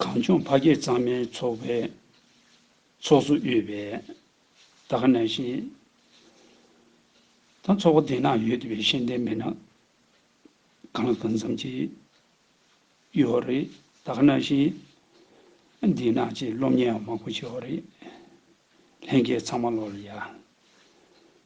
གངས་ལྗོངས་ཕ་སྐད་གཙང་མའི་ཚོགས་པའི་ཚོགས་གཙོ་གཡོད་པས་ད་ག་ནས་ཤེས། ད་ཚོགས་པ་དེ་ན་ཡོད་དེ་བས་ཤེས་ལྡན་མེད་ན་གང་ལ་གང་འཚམས་ཀྱིས་ཡོད་བ་རེད་ད་ག་ནས་ཤེས། འདི་ན་ཅིག་སློབ་གཉེར་ཡང་མང་པོ་བྱས་བ་རེད། ལྷན་རྒྱས་ཚང་མ་ལོག་ལ་ཡ།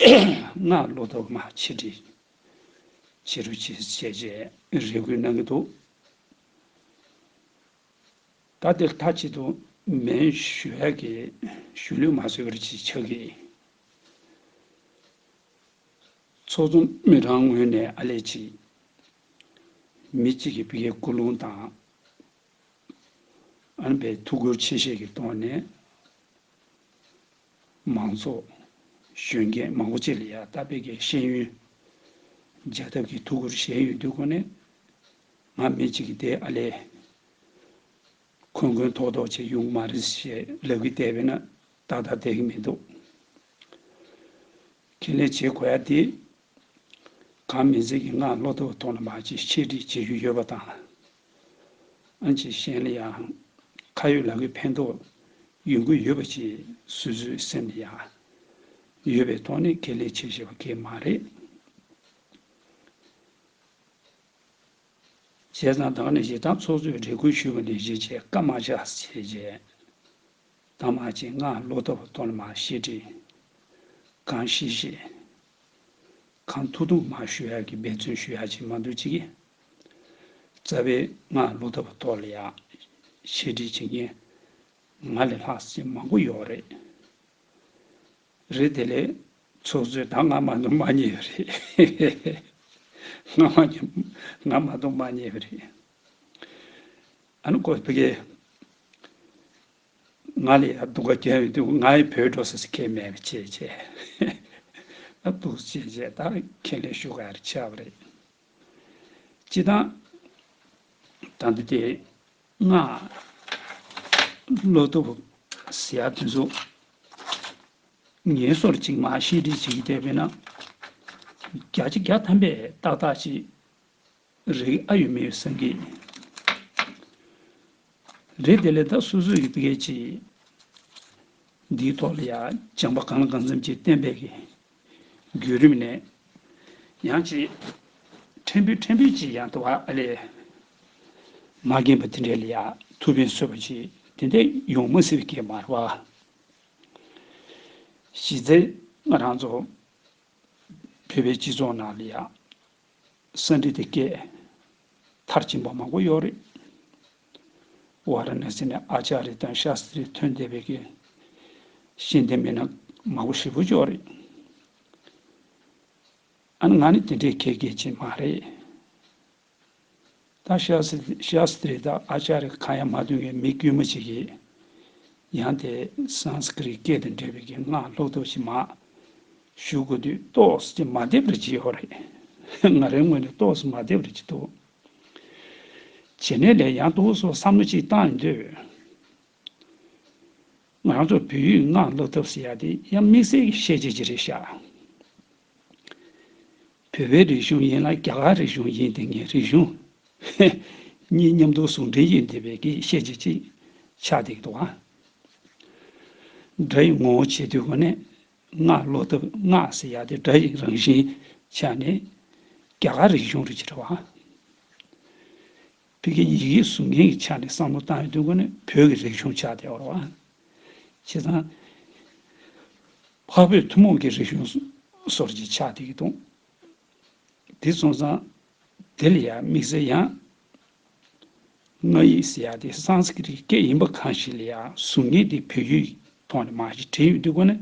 སྔགས་བློ་དུ་མ་ཆིག་དྲིལ། བྱི་རུ་ཆིག་ཅེས་བཅས་རེ་བསྐུལ་གནང་གི་འདུག། ད་འདིར་མཐའ་གཅིག་ཏུ་མེན་ཞུ་ཧེ་ཀི་ཞུ་ལུས་མ་བཟོད་པར་གྱིས་ཕྱག་གིས། ཚོགས་གཙོ་མི་གྲངས་ངོས་ནས་ཨ་ལས་གཅིག། མི་གཅིག་གི་བཀའི་སྐུ་རླུང་དང། ཨན་པའི་ཐུགས་ཁུར་ཆེ་བཞེས་ཀྱི་ཐོག་ནས། མང་ཚོགས། གཞོན་སྐྱེས་མང་པོ་བཅས་ལ་ཡང་ལྟ་སྤེལ་གྱི་ཤེས་ཡོན། རྒྱལ་ཐབས་ཀྱི་ཐུགས་ཁུར་བཞེས་ཡོད་འདུག་གོ་གནས། ང་མི་གཅིག་གིས་དེ་ཨ་ལས། འཁོན་འཁོན་ཐོག་ཐོག་བྱེད་ཡོང་གི་མ་རེད་ཞེས་ལབ་ཀི་བསྡད་པས་ན་ཏག་ཏག་བསྡད་ཀི་མི་འདུག། ཁེ་ལས་བྱེད་དགོས་ཡ་དེ་གང་མི་ཚིག་གི་སྔགས་བློ་ལྡོག་གཏོང་ལ་མ་བྱེད་ཆེད་བྲིས་བྱེད་རྒྱུ་ཡོད་པ་དང། ཨ་ཅེ་གཞན་ལ་ཡང། ཁ་ཡོད་ལག་ཡོད་ཕན་ཐོགས་ཡོང་གི་ཡོད་པ་བཅས་སུ་སུའི་སེམས་ལ་ཡང། ཡོད་པའི་དོགས་གནད་ཁས་ལེན་བྱེད་ཤེས་པ་གལ་མ་རེད། བྱས་ཙང་བདག་ནི་ཞེ་སྡང་ཚོགས་གཙོས་རེ་སྐུལ་ཞུས་པ་ནས་གཞི་བྱས་སྐབས་མ་བཞག་བྱས་རྗེས། ད་མ་བྱེད་སྔགས་བློ་ལྡོག་གཏོང་ལ་མ་བྱེད་བྲིས། གང་ཤེས་ཤེས། གང་ཐུགས་དུ་མ་ཞུ་ཡག་གི་འབད་བརྩོན་ཞུ་ཡག་བྱེད་མ་འདུག་ཅིག། རྩ་བའི་སྔགས་ཀླུ་ཐབས་གཏོར་ལ་ཡག། ཆེད་སྒྲིག་བྱེད་མཁན་ང་ལས་ལྷག་བྱེད་མང་པོ་ཡོད་རེད། རེད་དེ་ལས་ཚོགས་གཙོས་ད་སྔ་མ་གཏོང་མ་རྙེད་པ་རེད། སྔ་མ་ནས་སྔ་མ་གཏོང་མ་རྙེད་པ་རེད། ཨ་ནུ་ཀོ་བྷེ། ང་ལ་ཡང་སྡུག་ཁ་གྱེན་འདུག་ང་ཡི་བོད་འགྲོ་ཟེར་ཟེར་མཁན་མེད་པ་ཆེ་ཆེ་ད་སྡུག་ཟེར་ཆེ་ཆེ་ད་ཁས་ལེན་ཞུ་ག་རེ་ཆགས་པ་རེད། སྤྱི་བཏང། ད་འདི་དེ་སྔ་བློ་སྟོབས་ཟེར་ཡག་དེ་ཚོ་ངན་སོར་ཅིག་མ་ཤེས་འཁྲིད་བྱེད་ཀྱི་བསྡད་པས་ན། བརྒྱ་ཆ་བརྒྱ་ཐམ་པས་ཏག་ཏག་ཅིག་རེད་ཨ་ཡོད་མི་ཡོད་སེམས་ཀྱི། རེད་དེ་ལས་ད་སོ་སོས་ཀྱི་སྐད་ཀྱིས། འདིའི་ཐོག་ལ་ཡང་སྦྱང་པ་གང་ལ་གང་འཚམ་གྱིས་གཏན་འབེབས་ཀྱི་བརྒྱུད་རིམ་ནས། ཡང་ཅིག་ཕྲན་བུས་ཕྲན་བུས་ཀྱིས་ཡང་དུ་བ་ཨ་ལས། མ་རྒན་པ་དེ་འདྲས་ལ་ཡང་ཐུགས་ཕན་གསོས་པ་ཅིག་དེ་འདྲས་ཡོང་མི་སྲིད་ཀྱི་མ་རེད་བ། གཞི་རྩའི་ང་རང་ཚོ་བོད་པའི་སྤྱི་ཚོགས་ནང་ལ་ཡང། གསོན་འདི་དེ་སྐད། མཐར་ཕྱིན་པ་མང་པོ་ཡོད་རེད། བ་ར་ན་སི་ནས་ཨ་ཅཱ་རི་དང་ཤཱ་སི་རི་ཐོན་བསྡད་པའི་གི་ཤེས་ལྡན་མི་སྣ་མང་པོ་ཧྲིལ་པོ་ཅོག་རེད། ཨ་ནི་ང་ནི་དེ་འདྲའི་མཁས་ཀྱི་ཅིག་མ་རེད། ད་ཤཱ་སི་ཏྲི་དང་ཨ་ཅཱ་རི་གང་ཡང་མ་མཐུན་པའི་མི་དཀྱུས་མ་ཅིག་གིས་ཡང་དེ Sanskrit སྐད་དང་འདྲ་བའི་གི་སྔགས་ལྷུག་ལྷུག་ཅིག་མ་ཞུ་དགོས་དུས་རྟོགས་ཀྱི་མ་བསྡེབས་རེ་བྱེད་ཡོད་རེད། ང་རང་ངོས་ནས་རྟོགས་ཀྱི་མ་བསྡེབས་རེ་བྱེད་འདུག་བྱེད་ནས་ལས་ཡང་དུ་སོགས་བསམ་བློ་ཅིག་བཏང་ཡོང་དུས། ང་ཚོར་བོད་ཡིག་སྔགས་ལྷུག་ཐབས་ཟེར་ཡག་དེ་ཡང་དམིགས་བསལ་གྱི་ཤེས་བྱེད་ཅིག་རེད་ཤག་བོད་པའི་རིག་གཞུང་ཡིན་ལ་རྒྱ་གར་རིག་གཞུང་ཡིན་དེ་ངའི་རིག་གཞུང། ཧེ། གཉིས་མཉམ་དུ་ཟུང་འབྲེལ་ཡོད་འདི་བས་ཀྱི་ཤེས་བྱེད་ཅིག་ཆགས་འདུག་གདུག་ཨ། སྒྲ་ཡི་ངོ་བོ་ཆེ་དུས་གོ་གནས་སྔགས་བློ་ཐབས་སྔགས་ཟེར་ཡག་དེ་སྒྲ་ཡི་རང་བཞིན་ཆ་ནས་རྒྱ་གར་རིག་གཞུང་རུ་ཆེ་བ། བོད་ཀྱི་ཡིག་ཡིག་གཟུགས་བརྙན་གྱི་ཆ་ནས་བསམ་བློ་བཏང་ཡོད་དོན་གོ་ནི་བོད་ཀྱི་རིག་གཞུང་ཆགས་བསྡད་བར་བ། བྱས་ཙང། འཕགས་བོད་ཐུན་མོང་གི་རིག་གཞུང་སོར་གྱིས་ཆགས་བསྡད་ཀྱི་དོན། དེ་མཚོན་ཙང། དེ་ལ་ཡང་དམིགས་བསལ་ཡང། ང་ཡིག་ཟེར་ཡག་དེ་སངས་སྐྲིད་ཀྱི་སྐད་ཡིན་པ་གང་ཞིག་ལ་ཡང་གཟུགས་བརྙན་དེ་བོད་ཡིག་ཐོག་ནས་མ་ཞིག་བྲིས་ཡོད་དོན་གོ་ནི།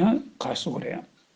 ཡང་ག་སོགས་རེད།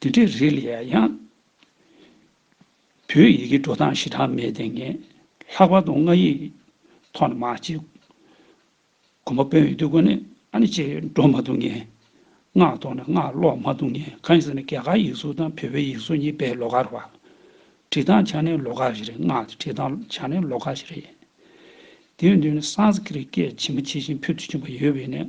དེ་འདྲའི་རིགས་ལ་ཡང་ཡང་བོད་ཡིག་གི་འགྲོ་སྟངས་ཞེ་དྲག་མེད་དེ་ངས་ལྷག་པར་དུ་སྔགས་ཡིག་ཐོག་ནས་མ་བྱས། གོམ་པ་སྤོས་ཡོད་དུས་ཀུན་ནས་ཨ་ནི་ཅེས་འགྲོ་མ་ཐུབ་ངེས། སྔགས་ཐོག་ནས་སྔགས་ཀློག་མ་ཐུབ་ངེས་གང་ཡིན་ཟེར་ན་རྒྱ་གར་ཡིག་གཟུགས་དང་བོད་པའི་ཡིག་གཟུགས་གཉིས་དཔེ་ཀློག་ག་རེ་བ། བྲིས་སྟངས་ཆ་ནས་ཀློག་ག་རེ་རེད་སྔགས་ཀྱི་བྲིས་སྟངས་ཆ་ནས་ཀློག་ག་རེ་རེད། དེའི་མདུན་ནས Sanskrit སྐད་ཇི་མ་ཇི་བཞིན་ཕུལ་དུ་བྱུང་བ་ཡོད་བས་ནས་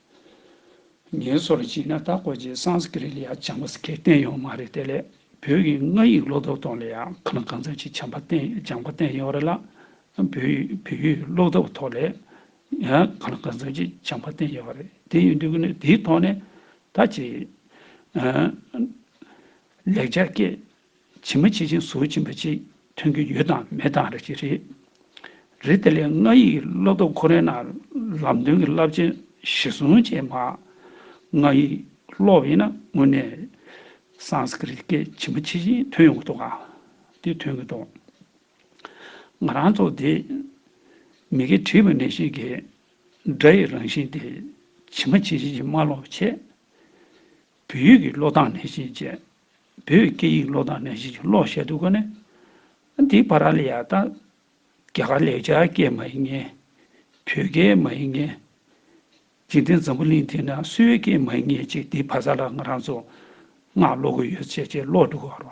ངལ་སོར་བྱས་ན་ད་གོ་རྗེས་སངས་སྐི་རི་ལ་ཡང་བྱམས་པ་སྐད་བསྟན་ཡོང་མ་རེད་དེ་ལས་བོད་ཡིག་ང་ཡིག་ལོ་ཐོབ་ཐོག་ལ་ཡང་ཁ་ན་གང་འཚམ་ཞིག་བྱམས་པ་བསྟན་བྱམས་པ་བསྟན་ཡོང་རེད་ལ་བོད་ཡིག་བོད་ཡིག་ལོ་ཐོབ་ཐོག་ལ་ཡང་ཁ་ན་གང་འཚམ་ཞིག་བྱམས་པ་བསྟན་ཡོང་རེད་དེ་ཡིན་དུས་ནི་དེའི་ཐོག་ནས་ད་ཅིག་ལེགས་སྦྱར་སྐད། བྱིན་མ་བྱེད་ཅིང་གཟུགས་བྱིན་པ་གཅིག་ཐོན་གྱི་ཡོད་དང་མེད་དང་རེ་གཅིག་རེད། རེ་དེ་ལས་ལྔ་ཡིག་བློ་སྟོབས་ཁོ་རེ་ན་ལམ་སྟོན་གྱི་རླབས་ཆེན་བཞི་བཟུང་བྱས་མ། ལྔ་ཡིག་བློ་ཡིན་ན་དངོས་གནས Sanskrit སྐད་བྱིན་མ་བྱེད་ཅིང་ཐོན་ཡོང་གི་འདུག་ག་དེ་ཐོན་གྱི་འདུག། ང་རང་ཚོ་དེ་མི་དགེ་བྲིས་པ་ནས་ཤིག་གིས་སྒྲ་ཡི་རང་བཞིན་དེ་བྱིན་མ་བྱེད་ཅིང་ཀྱི་མ་ལོག་བྱས། བོད་ཡིག་གི་ཀློག་སྟངས་ནན་ཞིང་བཅད། བོད་སྐད་ཡིག་ཀློག་སྟངས་ནན་ཞིང་བཅད་ཀློག་བཤད་སྡུག་ག་ནས། འདི་བྷ་ར་ལི་ཡ་དང། རྒྱ་གར་ལེགས་སྦྱར་སྐད་མ་ཡིན་ངེས། བོད་སྐད་མ་ཡིན་ངེས། འཇིག་རྟེན་འཛམ་བུ་གླིང་འདི་ན་སུའི་སྐད་མ་ཡིན་ངེས་ཅིག་འདི་བྷ་ས་ལ་ང་རང་ཚོ་སྔགས་ཀློག་གི་ཡོད་ཚད་ཅེས་ཀློག་འདུག་ག་རང།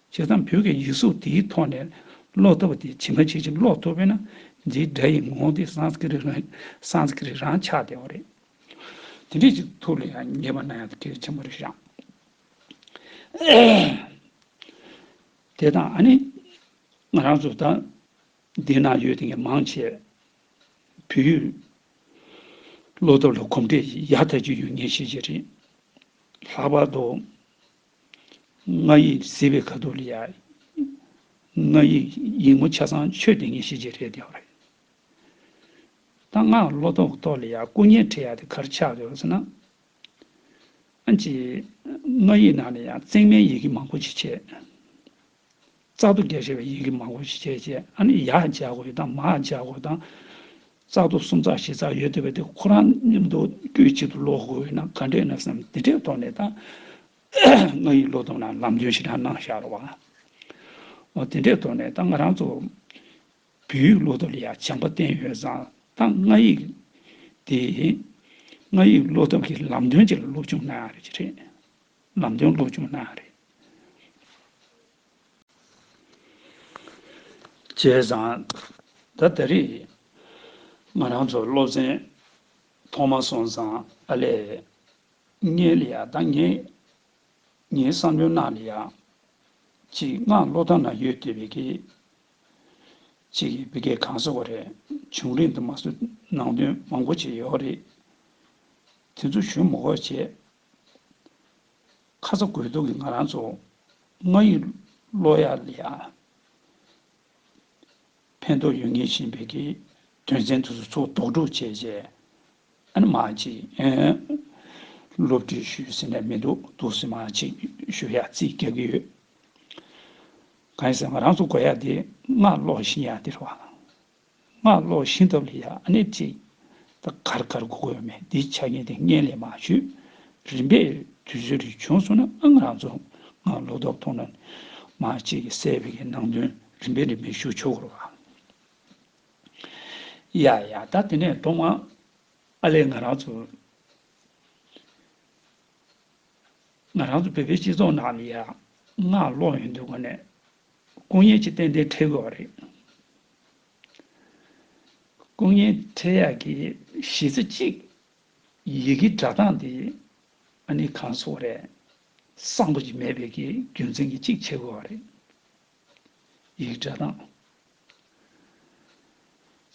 བྱས་ཙང་བོད་ཀྱི་ཡིག་གཟུགས་དེའི་ཐོག་ནས་ཀློག་ཐུབ་པ་དེ་ཇི་མ་ཇི་བཞིན་ཀློག་ཐུབ་པས་ན་འདིའི་སྒྲ་ཡི་ངོ་བོ་དེ Sanskrit རང Sanskrit རང་ཆགས་བདེ་བ་རེད། དེ་འདྲས་ཀྱི་ཐུགས་ལ་ཡང་ཉེས་པ་ན་ཡང་དགེ་བ་ཆེན་པོ་རེད་བཞག། དེ་དང་ཨ་ནི་ང་རང་ཚོ་ད་འདི་ན་ཡོད་དེ་ངས་མང་ཆེ་བོད་ཡིག་ཀློག་ཐབས་ལ་གོམས་འདྲིས་ཡག་ཐག་ཅིག་ཡོད་ངེས་ཤེས་ཀྱི་རེད། ལྷག་པར་དུ་ང་ཡིག་བཟི་བའི་ཁ་དོག་ལ་ཡ། ང་ཡིག་ཡིག་ངོ་ཆ་ཚང་ཆོས་དེ་ངེས་ཤེས་ཀྱི་རེད་དེའོ་རེད། ད་ང་བློ་དོག་དོག་ལ་ཡ་སྐུ་བརྙན་ཁྲིད་ཡ་དེ་གར་ཆགས་ཡོད་ཟེར་ན། ཨ་ཅེ། ང་ཡིག་ནང་ལ་ཡ་བརྩེགས་མའི་ཡི་གེ་མང་པོ་ཞིག་ཆད། རྩག་ཏུ་བརྒྱ་ཞེས་པའི་ཡི་གེ་མང་པོ་ཞིག་བྱས་རྗེས་ཨ་ནི་ཡར་བརྒྱ་དགོས་དང་མར་བརྒྱ་དགོས་དང། རྩག་ཏུ་སུམ་རྩག་བཞི་རྩག་ཡོད་འདོད་པས་དེ་ཁོ་རང་མཉམ་དུ་དཀྱུས་གཅིག་ཏུ་ཀློག་དགོས་ཡོད་ན་ག་འདྲས་ན་བསམ་དེ་འདྲའི་ཐོག་ནས་ད་ང་ཡི་ཀློག་སྟངས་ལ་ལམ་སྟོན་ཞིག་དྲངས་གནང་ཤར་བ། དེ་འདྲའི་ཐོག་ནས་ད་ང་རང་ཚོ་བོད་ཡིག་ཀློག་ཐབས་ལ་ཡང་བྱམས་པ་བསྟན་ཡོད་ཙང་ད་ང་ཡིག་དེ་ང་ཡིག་ཀློག་ཐབས་ཀྱི་ལམ་སྟོན་ཅིག་ལ་སློབ་སྦྱོང་གནང་ཡང་རེད་ཅེས་རེད། ལམ་སྟོན་སློབ་སྦྱོང་གནང་བ་རེད། བྱས་ཙང། ད་ལྟ་རེད། ང་རང་ཚོ་སློབ་ཚན་ཐོག་མ་སོང་ཙང་ཨ་ལས། ངའི་ལ་ཡག་དང་ངའི་ངའི་བསམ་བློའི་ནང་ལ་ཡག། ཅིག་ངའང་བློ་ཐང་ན་ཡོད་དེ་བེ་གེ། ཅིག་གིས་བེ་གེ་གང་བཟོ་བ་རེད་བྱུང་རིང་དུ་མ་བཟོས་ནང་དོན་མང་པོ་བྱས་ཡོད་རེད། དེ་ཚོ་ཞུ་མོ་ཁོ་བྱས། ཁ་ཚ་དགོས་གཏུགས་ཀྱི་ང་རང་ཚོ་ང་ཡི་བློ་ཡ་ལ་ཡང་ཕན་ཐོགས་ཡོད་ངེས་ཤིང་བོད་ཀྱི་དོན་ཚན་དུ་སུ་ཚོགས་དོགས་སྒྲུག་བྱས་རྗེས་ཨ་ནི་མ་གཅིག་སློབ་ཁྲིད་ཞུས་ཟེར་ནས་མི་འདུག་འདུག་ཟེར་མ་གཅིག་ཞུ་ཡ་རྩིས་བསྐྱལ་གྱི་ཡོད། གང་ཡིན་ཟེར་ང་རང་ཚོ་དགོས་ཡ་དེ་ང་ཀློག་བཞིན་ཡ་དེ་རེད་བ། སྔགས་ཀློག་ཤིང་སྟབས་ལ་ཡ་ནས་བརྩིས། ད་གར་གར་སྒུག་དགོས་མེད་འདི་ཆ་རྐྱེན་དེ་སྔས་ལས་མ་ཞུས། རིམ་པས་དུས་ཚོད་རིང་བྱུང་སོང་ན་ཨང་རང་ཚོ་སྔགས་ཀློག་མདོག་མདོག་ནང་ནས་མ་གཅིག་གིས་གསལ་བའི་གི་ནང་དོན་རིམ་པས་རིམ་པས་ཞུ་ཆོག་གོ་རོགས་ཨ། ཡ་ཡ་ད་དེ་ནས་གཏོང་ཨ། ཨ་ལས་ང་རང་ཚོ། ང་རང་ཚོ་བོད་པའི་སྤྱི་ཚོགས་ནང་ནས་ཡ་སྔགས་ཀློག་ཡོང་དུས་གོ་ནས། སྐུ་བརྙན་གཅིག་ཏན་ཏན་འཁྲིད་དགོས་བ་རེད། སྐུ་བརྙན་འཕྲེད་ཡར་གྱི་གཞིས་རྩེ་གཅིག། ཡི་གེའི་སྒྲ་གདངས་འདི་ཨ་ནི་གང་བཟོ་བ་རེད། གསང་པོ་ཅིག་མེད་པའི་གི་རྒྱུ་མཚན་གྱིས་གཅིག་བྱེད་དགོས་བ་རེད། ཡི་གེ་སྒྲ་གདངས།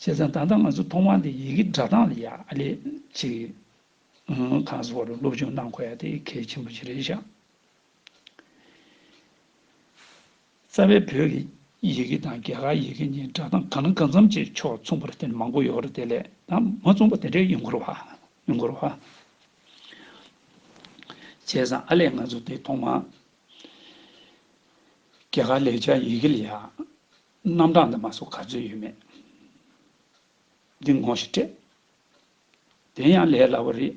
བྱས་ཙང་ད་ལྟ་ང་ཚོ་ཐོག་མར་འདི་ཡི་གེ་སྒྲ་གདངས་ལ་ཡ་ལེ་ཅིག་གང་བཟོ་བ་རུ་སློབ་སྦྱོང་གནང་དགོས་ཡ་དེ་གལ་ཆེན་པོ་ཅིག་རེད་བཞག། རྩ་བའི་བོད་ཀྱི་ཡི་གེ་དང་རྒྱ་གར་ཡི་གེ་གཉིས་སྒྲ་གདངས་གང་ན་གང་འཚམ་བཅས་ཕྱོགས་མཚུངས་པར་དེ་ནི་མང་པོ་ཡོད་རེད་དེ་ལས་ད་མ་མཚུངས་པ་དེ་འདྲའི་ཡོད་འགོར་བ། ཡོད་འགོར་བ། བྱས་ཙང་ཨ་ལས་ང་ཚོ་དེ་ཐོག་མར་རྒྱ་གར་ལེགས་སྦྱར་ཡི་གེ་ལ་ཡང་རྣམ་གྲངས་འདི་མ་སོགས་ག་ཚོད་ཡོད་མེད་འདི་ངོ་ཞིག་སྤྲད་དེ་ཡང་ལས་སླ་བོ་རེད།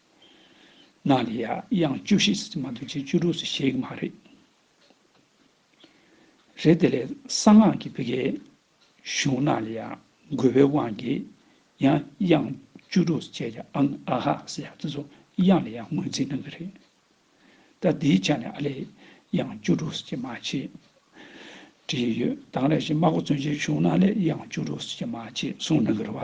ན་ལས་ཡ་དབྱངས་བཅུ་བཞི་ཟེར་གྱི་མ་འདུག་ཅེས་བཅུ་དྲུག་ཟེར་ཤེས་ཀྱི་མ་རེད། རེད་དེ་ལས་གསང་སྔགས་ཀྱི་བི་གའི་གཞུང་ན་ལས་ཡ་རྒོལ་བའི་དབང་གིས་ཡ་དབྱངས་བཅུ་དྲུག་ཟེར་བྱས་ཀྱི་ཨང་ཨ་ཧ་ཟེར་ཡ་དེ་ཚོ་དབྱངས་ལས་ཡ་ངོས་འཛིན་གནང་གི་རེད། ད་འདིའི་ཆ་ནས་ཨ་ལས་དབྱངས་བཅུ་དྲུག་ཟེར་གྱི་མ་ཅེས་བྲིས་ཡོད་དང་ལས་གཞི་སྨྲ་སྒོ་བཙུན་ཆེན་གཞུང་ན་ལས་དབྱངས་བཅུ་དྲུག་ཟེར་གྱི་མ་ཅེས་གསུངས་གནང་གི་རེད་བ།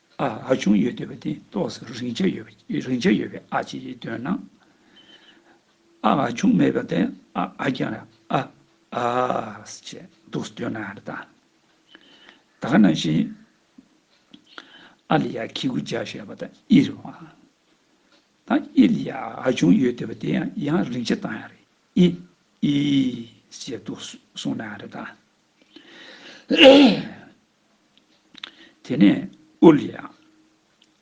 ཨ་ཨ་ཆུང་ཡོད་འདོད་པ་དེ་རྟོགས་སུ་རིང་ཆ་ཡོད་པ་རིང་ཆ་ཡོད་པའི་ཨ་ཅེས་འདོད་ན། ཨ་ཨ་ཆུང་མེད་པ་དེ་ཨ་ཨ་ཀྱང་རེད་ཨ་ཨ་ཨཱ་ཅེས་འདོགས་སུ་འདོད་ན་ཨ་རེད་ད། ད་ག་ནང་བཞིན། ཨ་ལ་ཡ་ཁི་གུ་ཇག་ཞེས་པ་དང་ཨི་རེད་བ། ད་ཨི་ལ་ཡ་ཨ་ཨ་ཆུང་ཡོད་འདོད་པ་དེ་ཡང་རིང་ཆ་བཏང་ཡ་རེད་ཨི་ཨི་ཨི་ཨི་ཨི་ཅེས་འདོགས་སུ་སོང་ན་ཨ་རེད་ད། དེ་ནས་དབུ་ལ་ཡང་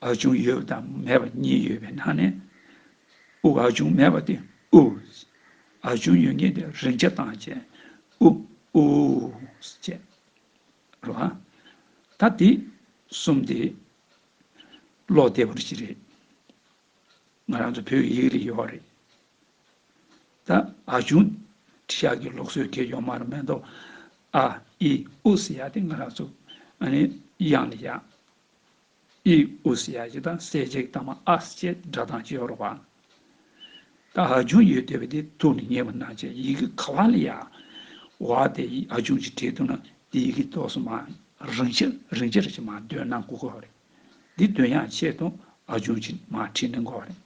ཨ་ཆུང་ཡོད་པ་དང་མེད་པ་གཉིས་ཡོད་པའི་ནང་ནས་དབུགས་ཨ་ཆུང་མེད་པ་དེ་ཨུའུ། ཨ་ཆུང་ཡོད་མཁན་དེ་རིང་ཆ་དང་བཅས་ཨུའུའུའུའུའུའུ་ཅེས་རོ། ད་དེ་གསུམ་དེ་ཀློག་བདེ་བོ་ཞིག་རེད། ང་རང་ཚོ་བོད་ཀྱི་ཡིག་རིགས་ཡོད་རེད། ད་ཨ་ཆུང། ཁྲི་ཤགས་ཀྱི་ལུགས་སྲོལ་དེ་ཡོང་མ་རུ་མེད་དོ། ཨ། ཨི། ཨུ་ཟེར་ཡག་དེ་ང་རང་ཚོ། ཨ་ནི། དབྱངས་ནི་ཡག། ཨི། ཨུ་ཟེར་ཡག་ཅིག་དང་སེར་བྱེས་ཀྱི་དང་མ་ཨ་ཅེས་སྒྲ་གདངས་ཅི་ཡོད་རོགས་པ། ད་ཨ་ཆུང་ཡོད་བསྡད་པ་དེ་ཐུགས་ནས་ཉེས་པ་གནང་བྱས་ཡི་གེ་ག་ལ་ལ་ཡག། བ་དེ་ཨ་ཆུང་གིས་བྲིས་འདུག་ན་དེ་ཡི་གེ་ཏོག་སོ་མ་རིང་ཆེ་རིང་ཆེ་རེ་ཅིག་མ་འདོན་ན་མགོ་སྐོར་བ་རེད། འདི་འདོན་ཡག་ཆེད་དུ་ཨ་ཆུང་གིས་མ་བྲིས་ན་མགོ་བ་རེད།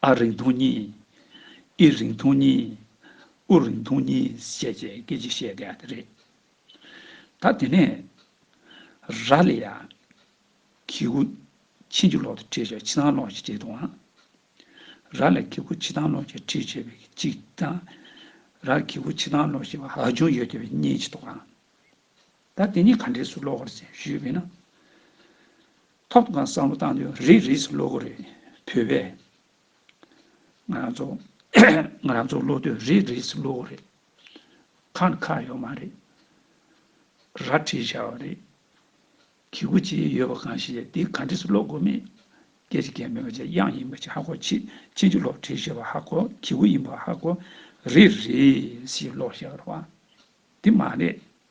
ཨ་རིང་ཐུང་གཉིས། ཨི་རིང་ཐུང་གཉིས། ཨུ་རིང་ཐུང་གཉིས་བཤད་ཅེས་སྐད་ཅིག་བཤད་དགོས་པ་དེ་རེད། ད་དེ་ནས། ར་ལི་ཡ། ཁི་ཁུ། ཆིན་གྱི་ལོག་ཏུ་ཁྲིད་བྱས་ཕྱི་ཐང་ལོག་ཅེས་བྲིས་འདུག་ཨང། ར་ལི་ཁི་ཁུ་ཆི་ཐང་ལོག་ཅེས་ཁྲིད་བྱས་པའི་གཅིག་དང། ར་ལི་ཁི་ཁུ་ཆི་ཐང་ལོག་ཅེས་པ་ཧ་ཅུང་ཡོད་སྐྱོ་བའི་གཉིས་བྱས་འདུག་ཨང། ད་དེ་གཉིས་ག་འདྲས་སུ་ལོག་གོ་རེ་ཞེས་ཞུས་པས་ན། ཐོབ་དང་བསམ་བློ་བཏང་དུས་རིགས་རིས་སུ་ལོག་གི་རེད། བོད་པས། ང་རང་ཚོ། ང་རང་ཚོ་སློབ་དུས་རིགས་རིས་སུ་ལོག་གི་རེད། ཁ་འདི་ཁ་ཡོད་མ་རེད། ར་བྲིས་བཞག་པ་རེད། གི་གུ་ཅི་ཡོད་པ་གང་ཞིག་ལས་འདི་ག་འདྲིས་སུ་ཀློག་དགོས་མེད། སྐད་ཆ་གལ་མེད་པ་ཆ་དབྱངས་ཡིན་པ་ཆ་ཧ་གོ་ཆེ་ཆེ་འཇུག་ལོག་བྲིས་བཞག་པ་ཧ་གོ་གི་གུ་ཡིན་པ་ཧ་གོ། རིགས་རིས་སུ་ལོག་བཞག་པ། དེ་མ་རེད།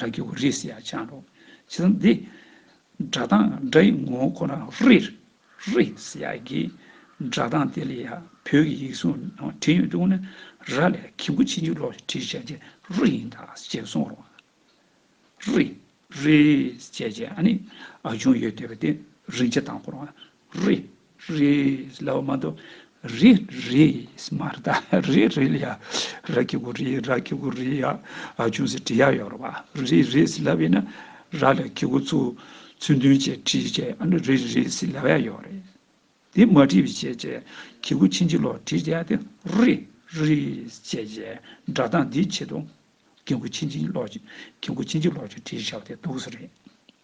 ར་གི་འོ་རིས་ཡ་ཆང་རོ། ཇི་ལྟར་འདི། སྒྲ་དང་སྒྲ་ཡི་ངོ་བོ་ཁོ་ན་རི། རི། ཡ་གི། སྒྲ་དང་དེ་ལས་ཡ་བོད་ཀྱི་ཡིག་གཟུགས་ནང་བྲིས་ཡོད་འདུག་ན། ར་ལས་གི་མགོ་ཕྱི་མཇུག་ལོགས་སུ་བྲིས་བྱས་རྗེས་རི་ཡིན་དཱ་ཞེས་གསུངས་རོགས། རི། རི། ཞེས་བྱས་ཨ་ནི་ཨ་ཆུང་ཡོད་འདོད་པ་དེ་རིན་ཆ་དང་པོར་རི་རིས་ལ་བ་མ་གཏོགས་རི་རིས་མ་རེད་ད་རི་རིས་ལ་ཡ་ར་ཁི་གུ་རི་ར་ཁི་གུ་རི་ཡ་ཅུང་ཟད་བྲི་ཡ་ཡོད་རེད་བ་རི་རིས་ལ་བས་ན་ར་ལ་ཁི་གུ་ཚུ་ཚུལ་མཐུན་བཅས་བྲིས་བཅས་ཨ་ནུ་རི་རིས་ལ་བ་ཡ་ཡོད་རེད་དེ་མ་བྲིས་བཅས་བཅས་ཁི་གུ་ཕྱིན་ཅི་ལོག་བྲིས་བཅས་དེ་རི་རིས་བཅས་བཅས་སྒྲ་གདངས་འདི་ཆེད་དུ་ཁི་གུ་ཕྱིན་ཅི་ལོག་ཁི་གུ་ཕྱིན་ཅི་ལོག་བཅས་བྲིས་བཞག་དེ་འདུག་ས་རེད།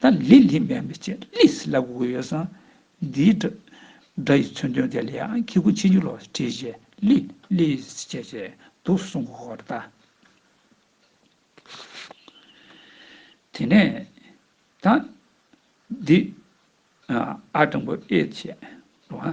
དང་ལི་ལི་མན་པའི་ཆེད་ལི་སི་ལ་གུ་གུ་ཡོད་སང་འདིའི་སྒྲ་སྒྲ་ཡི་མཚོན་དོན་དེ་ལ་ཡང་ཁྱི་གུ་ཆེ་འཇུག་ལོ་བྲིས་བྱས་ལི་ལི་སི་བྱས་བྱས་འདུག་གསུང་གོ་གོ་ར་ད། དེ་ནས་དང་འདི་ཨ་སྤྲང་པོ་ཨེ་བྱས་ལོ་ཨ་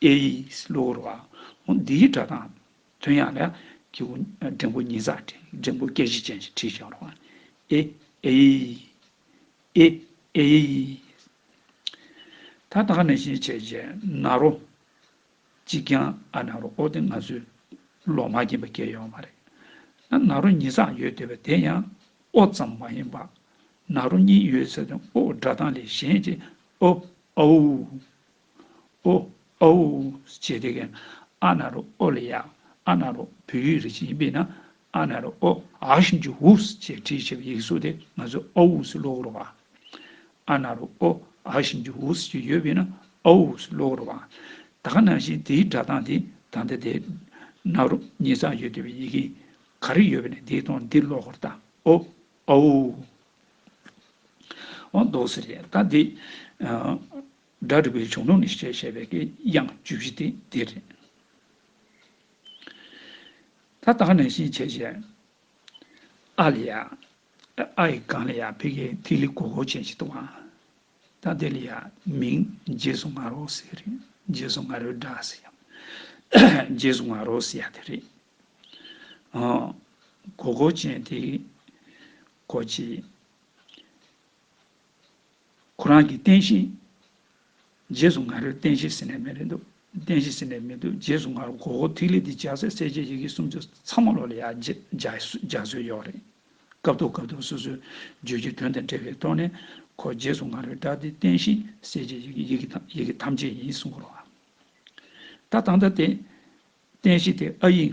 ཨེ་ཡིས་གློ་བུར་བ། འོ་འདིའི་སྒྲ་དང། དོན་ཡང་ལ། ཀྱི་འོ། འགྲེང་བུ་ཉིས་བརྩེགས་དྲིལ་འགྲེང་བུ་སྐད་བཞི་ཅན་གྱི་དྲིལ་བྱ་བར་དབང། ཨེ། ཨེ་ཡི། ཨེ། ཨེ་ཡི། ད་ལྟ་ནས་ཤེས་བྱས་རྗེས་ན་རོ། གཅིག་ཀྱང་ཨ་ན་རོ་ཨོ་དེ་ང་ཚོའི། ལོག་སྨྲ་རྐྱེན་པ་སྐྱེ་ཡོང་བ་རེད། ན་ན་རོ་ཉིས་བརྩེགས་ཡོད་དེ་བས་དེ་ཡང། ཨོ་ཙམ་མ་ཡིན་པར། ན་རོ་གཉིས་ཡོད་ཟེར་དོན་ཨོའོ་སྒྲ་གདངས་ལས་གཞན་གྱི་ཨོ། ཨའུ། ཨོ། ཨོའོ། ཅེས་དེ་གའི་ཨ་ན་རོ་ཨོ་ལས་ཡག་ཨ་ན་རོ་བོད་ཡིག་རིག་བྱེད་ཡིན་པས་ན་ཨ་ན་རོ་ཨོ། ཨ་ཞིང་ཆུ་འུབས་ཅེས་བྲིས་ཆེ་བའི་ཡིག་གཟུགས་དེ་ང་ཚོས་ཨོ་འུབས་སུ་ཀློག་རོགས་བ། ཨ་ན་རོ་ཨོ། ཨ་ཞིང་ཆུ་འུབས་ཅེས་ཡོད་པས་ན་ཨོ་འུབས་སུ་ཀློག་རོགས་བ། ད་ག་ནང་བཞིན་དེའི་སྒྲ་གདངས་དེ་ད་ལྟ་དེ་ན་རོ་གཉིས་ཚང་ཡོད་འདོད་པའི་ཡི་གེ་ག་རེ་ཡོད་པ་ནས་འདི་དང་འདི་ཀློག་ཧོར་ལྟ་ཨོ། ཨོའོ། འོ་འདོགས་སེ་རེད་ད་འདི། སྒྲ་རིག་པའི་གཞུང་ལུགས་ནས་བཤད་བྱ་བའི་དགེ་དབྱངས་བཅུ་བཞི་སྟེ་འདི་རེད། ད་ལྟ་ནས་གཞི་བྱས་བྱས། ཨ་ལི་ཡ། ཨ་ཡི་གང་ལི་ཡ་ཕི་གའི་ཐིག་ལི་གོ་གོ་ཅན་ཞིག་འདུག་ཨང། ད་དེ་ལི་ཡ་མིང་རྗེས་སུ་ང་རོ་ཟེར་རེད། རྗེས་སུ་ང་རོའི་སྒྲ་ཟེར་ཡང། རྗེས་སུ་ང་རོ་ཟེར་ཡ་དེ་རེད། ཨོ། གོ་གོ་ཅན་དེ། གོ་ཅི། ཁོ་རང་གིས་བསྟན་བཞིན། རྗེས་སུ་ང་རེར་བསྟན་བཞིན་ཟེར་ནས་མེད་རེད་འདུག་བསྟན་བཞིན་ཟེར་ནས་མེད་འདུག་རྗེས་སུ་ང་རུ་གོ་གོ་ཐིག་ལེ་འདི་འཇགས་སའི་གསལ་བྱེད་ཡི་གེ་སུམ་ཅུ་ཚང་མ་ལོག་ལ་ཡག་འཇགས་སྲོལ་ཡོད་རེད། སྐབས་ཐོག་སྐབས་ཐོག་སོ་སོའི་བརྗོད་ཀྱི་དོན་དང་འབྲེལ་བའི་ཐོག་ནས་ཁོ་རྗེས་སུ་ང་རེར་བསྒྲགས་ཏེ་བསྟན་བཞིན་གསལ་བྱེད་ཡི་གེ་ཡི་གེ་ཡི་གེ་ཐམས་ཅད་ཡིན་གསུང་གོ་རོགས། ད་ད་ལྟ་དེ་བསྟན་བཞིན་དེ་ཨ་ཡིག་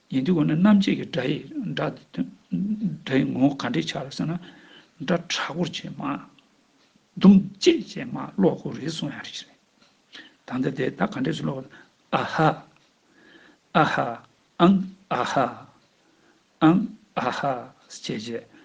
ཡིན་དུས་འོ་ན་རྣམ་འབྱེད་ཀྱི་སྒྲ་ཡིག་སྒྲ་ཡི་ངོ་བོ་ག་འདྲས་འཆར་ཟེར་ན། སྒྲ་དྲག་པོར་བྱེད་མ། དུམ་བཅད་བྱེད་མ་གློག་གུ་རེ་ཟུང་ཡང་རེད། ད་ལྟ་དེ་དག་ག་འདྲས་སུ་ཀློག། ཨ་ཧ། ཨ་ཧ། ཨང། ཨ་ཧ། ཨང། ཨ་ཧ། ཞེས་བྱེད།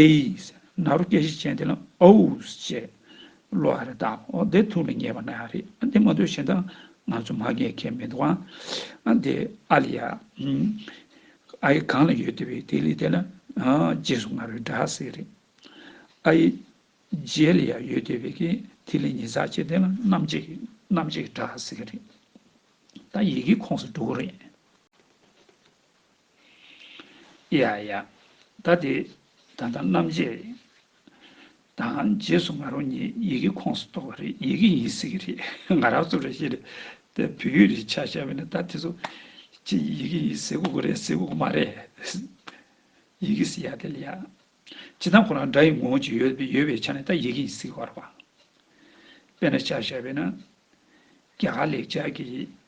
ཨེས། ནཱ་རོ་སྐད་བཞི་ཅན་དེ་ལ་ཨོའུས་བྱས། གློ་བ་རེ་ད་ཨོ་དེ་ཐུགས་ལ་ངེས་པ་ན་རེ་ཨ་དེ་མ་འདོད་གཞན་དག་ང་ཚོ་མ་རྒས་ཁས་མི་འདུག་ཨ་དེ་ཨ་ལི་ཡ་ཨིན། ཨ་ཡི་གང་ལ་ཡོད་དེ་བས་དེ་ལི་དེ་ལ་རྗེས་སུ་ང་རོའི་སྒྲ་ཟེར་རེད། ཨ་ཡི་རྗེས་ལི་ཡ་ཡོད་དེ་བས་ཀྱི་དེ་ལི་ཉིས་བརྩེགས་བྱས་དེ་ལ་རྣམ་གཅིག་རྣམ་གཅིག་སྒྲ་ཟེར་རེད། ད་ཡི་གེའི་ཁོངས་སུ་འགྲོ་གི་རེད། ཡ་ཡ། ད་དེ་ད་ལྟ་རྣམ་འབྱེད་དང་རྗེས་སུ་ང་རང་ཉིད་ཡི་གེའི་ཁོངས་སུ་གཏོགས་པ་རེད་ཡི་གེ་ཡིན་སྲིད་གི་རེད་ང་རང་ཚོ་རེད་ཤེས་རེད་དེ་བོད་ཡིག་རེད་ཆ་ཤས་པས་ན་ད་དེ་ཚོ་ཅི་ཡི་གེ་ཡིན་ཟེར་དགོས་ཀྱི་རེད་ཟེར་དགོས་ཀྱི་མ་རེད། ཡི་གེ་ཟེར་ཡ་དེ་ལ་ཡ། ཇི་ཙམ་ཁོ་རང་སྒྲ་ཡི་ངོ་བོ་ཅིག་ཡོད་ཡོད་པའི་ཆ་ནས་ད་ཡི་གེ་ཡིན་སྲིད་གི་རེད་པ། དཔེར་ན་ཆ་ཤས་པས་ན། རྒྱ་གར་ལེགས་སྦྱར་གྱི་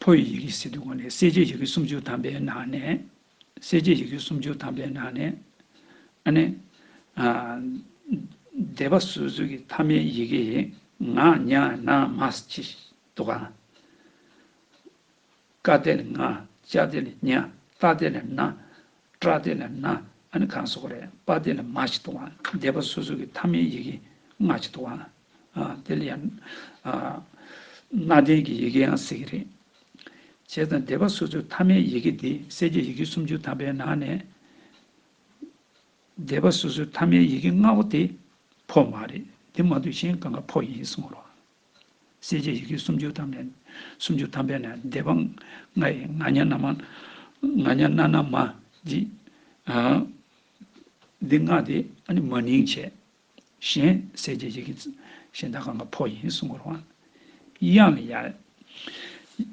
ཕོ་ཡི་ཡི་གེ་སྲིད་དུ་བསྒོམས་ནས་གསལ་བྱེད་ཡི་གེ་སུམ་ཅུ་ཐམ་པའི་ནང་ནས། གསལ་བྱེད་ཡི་གེ་སུམ་ཅུ་ཐམ་པའི་ནང་ནས། ཨ་ནི། བཟླས་པ་སོ་སོའི་གི་ཐ་མའི་ཡི་གེ་ཡིས་ང། ཉ། ན། མ། སི། ཅི། ཏོ། ག། བཀའ་དེར་ང། ལྕགས་དེ་ལ་གཉའ། རྟ་དེ་ལ་རྣ། སྐྲ་དེ་ལ་སྣ། ཨ་ནི་གང་སོགས་རེད། པ་དེ་ལ་མ་ཞིག་འདུག་ཨང། སྡེ་པ་སོ་སོ་གི་མཐའ་མའི་ཡི་གེ་ལྔ་ཅིག་འདུག་ཨང། དེ་ལ་ཡང། གནའ་དེང་གི་ཡི་གེའང་ཟེར་གྱི་རེད། བྱས་ཙང་སྡེ་པ་སོ་སོའི་མཐའ་མའི་ཡི་གེ་འདི་གསལ་བྱེད་ཡི་གེ་སུམ་ཅུ་ཐམ་པའི་ནང་ནས། སྡེ་པ་སོ་སོའི་མཐའ་མའི་ཡི་གེ་ལྔ་བོ་དེ་ཕོ་མ་རེད། དེ་མ་ཐུག་གཞན་གང་ག་ཕོ་ཡིན་གསུང་བ་རོ། སྲས་བཅས་ཡི་གེ་སུམ་ཅུ་ཐམ་པས་སུམ་ཅུ་ཐམ་པས་ནི་བཟླས་པ་ལྔ་ཡི་ང་སྙ་ན་མ། ང་སྙ་ན་ན་མ་བགྱིས། འདི་ལྔ་སྟེ་མ་ནིང་བྱས། གཞན་སྲས་བཅས་ཡི་གེ་གཞན་དག་གང་གཱ་ཕོ་ཡིན་གསུང་ངོར་བ། དབྱངས་ལས།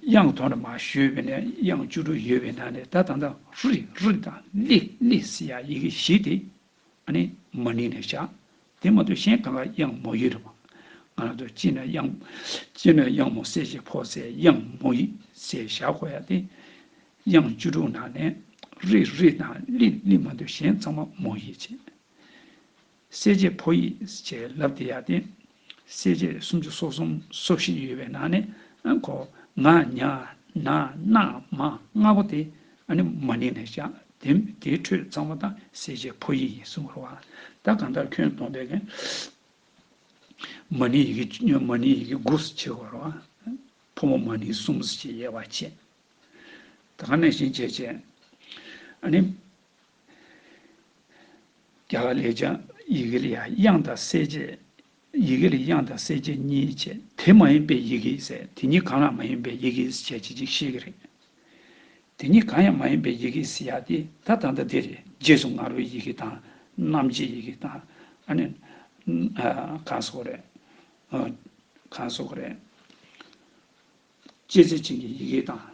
དབྱངས་དོ་ན་མ་ཞུས་པས་ནི་དབྱངས་བཅུ་དྲུག་ཡོད་པས་ན་ནི་ད་དང་ད་རི་རི་དང་ལི་ལི་སི་ཡ་ཡི་གེ་བཞི་སྟེ། ཨ་ནི། མ་ནིང་ནས་བཞག། དེ་མ་ཐོས་གཞན་གང་ལ་དབྱངས་མོ་ཡིག་རེ་བ། ང་ལ་ཐོས་ཅི་ན་དབྱངས་མོ་གསལ་ཞེས་ཕོག་ཚེ་དབྱངས་མོ་ཡིག་ཅེས་བཞག་གོ་ཡ་སྟེ། དབྱངས་བཅུ་དྲུག་ནང་ནས། རི་རི་དང་ལི་ལི་མ་ཐོས་གཞན་ཚང་མ་མོ་ཡིག་ཅེས། གསལ་བྱེད་ཕོ་ཡིག་ཅེས་ལབ་དེ་ཡ་སྟེ། སྲས་བཅས་སུམ་ཅུ་སོ་གསུམ་སོ་བཞི་ཡོད་པའི་ནང་ནས་གོ། ང། ཉ། ན། ནག། མ། ལྔ་པོ་དེ། མ་ནིང་ནས་བཞག། དེའི་ཁྲོད་གཙང་མ་དང་སྲས་བཅས་ཕོ་ཡིག་ཡིན་གསུངས་བར། ད་གང་ལྟར་ཁྱོད་སྟོང་པའི། མ་ནིང་ཡི་གེ། མ་ནིང་ཡི་གེ་དགུ་སུ་ཕྱེ་བར། ཕོ་མོ་མ་ནིང་གསུམ་སུ་ཕྱེ་དབྱེ་བ་བྱེད། ད་གང་ནས་བཞིན་བྱེད་བྱེད། རྒྱ་གར་ལས་བྱང་ཡི་གེ་ལ་དབྱངས་དང་གསལ་བྱེད། ཡི་གེ་ལ་དབྱངས་དང་གསལ་བྱེད་གཉིས་བྱས། དེ་མ་ཡིན་པའི་ཡི་གེའི་ཟེར་དེ་གཉིས་གང་ལ་མ་ཡིན་པའི་ཡི་གེའི་བྱས་བྱེད་ཅིག་ཤེས་ཀྱི་རེད། དེ་གཉིས་གང་ཡང་མ་ཡིན་པའི་ཡི་གེའི་ཡ་དེ་ད་ད་ད་དེ་རེད་རྗེས་སུ་ངར་བའི་ཡི་གེ་དང། རྣམ་འབྱེད་ཡི་གེ་དང། ཨ་ནི། གང་སོགས་རེད། གང་སོགས་རེད། བྱས་བྱེད་ཅིག་གི་ཡི་གེ་དང།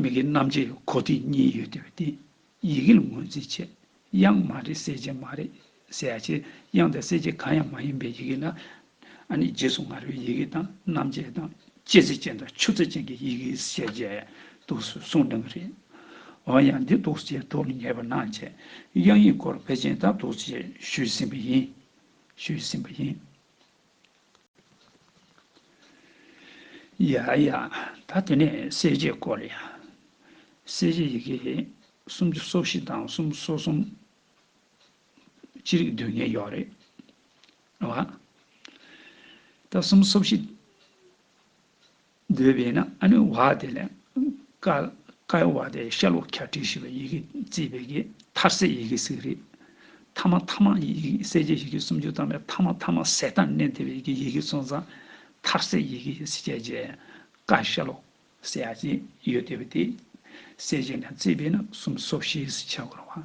མིག་གི་རྣམ་འབྱེད་གོ་ཐིག་གཉིས་ཡོད་དེ་བས་དེ་ཡི་གེ་ལ་ངོས་འཛིན་བྱེད་དབྱངས་མ་རེད་གསལ་བྱེད་མ་རེད་གསལ་བྱེད་དབྱངས་དང་གསལ་བྱེད་གང་ཡང་མ་ཡིན་པའི་ཡི་གེ་ལ་ཨ་ནི་རྗེས་སུ་ང་རོའི་ཡི་གེ་དང་རྣམ་འབྱེད་དང་སྐྱེད་ཚིག་ཅན་དང་ཆུ་ཚིག་ཅན་གྱི་ཡི་གེའི་ཤེས་བྱའི་གདུགས་སུ་གསུངས་སྟོན་གྱི་རེད། འོན་ཡང་འདི་གདུགས་བྱའི་གྲོགས་ལ་ངེས་པར་སྣང་བྱེད་དབྱངས་ཡིན་སྐོར་བེ་ཅིན་དང་གདུགས་བྱས་ཞུས་ཟིན་པ་ཡིན། ཞུས་ཟིན་པ་ཡིན། ཡ་ཡ། ད་དེ་ནས་གསལ་བྱེད་སྐོར་ལ་ཡང། གསལ་བྱེད་ཡི་གེ་གསུམ་གྱི་སོ་བཞི་དང་གསུམ་སོ་གསུམ། ཅི་རིགས་འདོད་ངེས་ཡོད་རེད་བ། ད་གསུམ་སོ་བཞི། འདོད་པས་ན་ཨ་ནུའི་བ་དེ་ལས། ཀཀའི་བ་དེ་ཤ་ལོ་ཁྱ་ཀྲི་ཞེས་པའི་ཡི་གེ་བརྩིས་པའི་གིས་མཐར་སའི་ཡི་གེ་ཟིག་རིག། ཐ་མ་ཐ་མ་སེ་བཅད་ཡི་གེ་སུམ་ཅུ་དང་བའི་ཐ་མ་ཐ་མ་སེ་དང་ནས་འདས་པའི་གིས་ཡི་གེ་ཚོན་ཚང། མཐར་སའི་ཡི་གེ་ཡི་སི་བཅད་བཅད། ཀ་ཤ་ལོ། སེ་ཨ་ཅེས་ཡོད་འདོད་པ་དེ། སེ་བཅད་ནས་བརྩིས་པས་ན་སུམ་སོ་བཞིའི་སི་བྱ་དགོས་རུང་བ།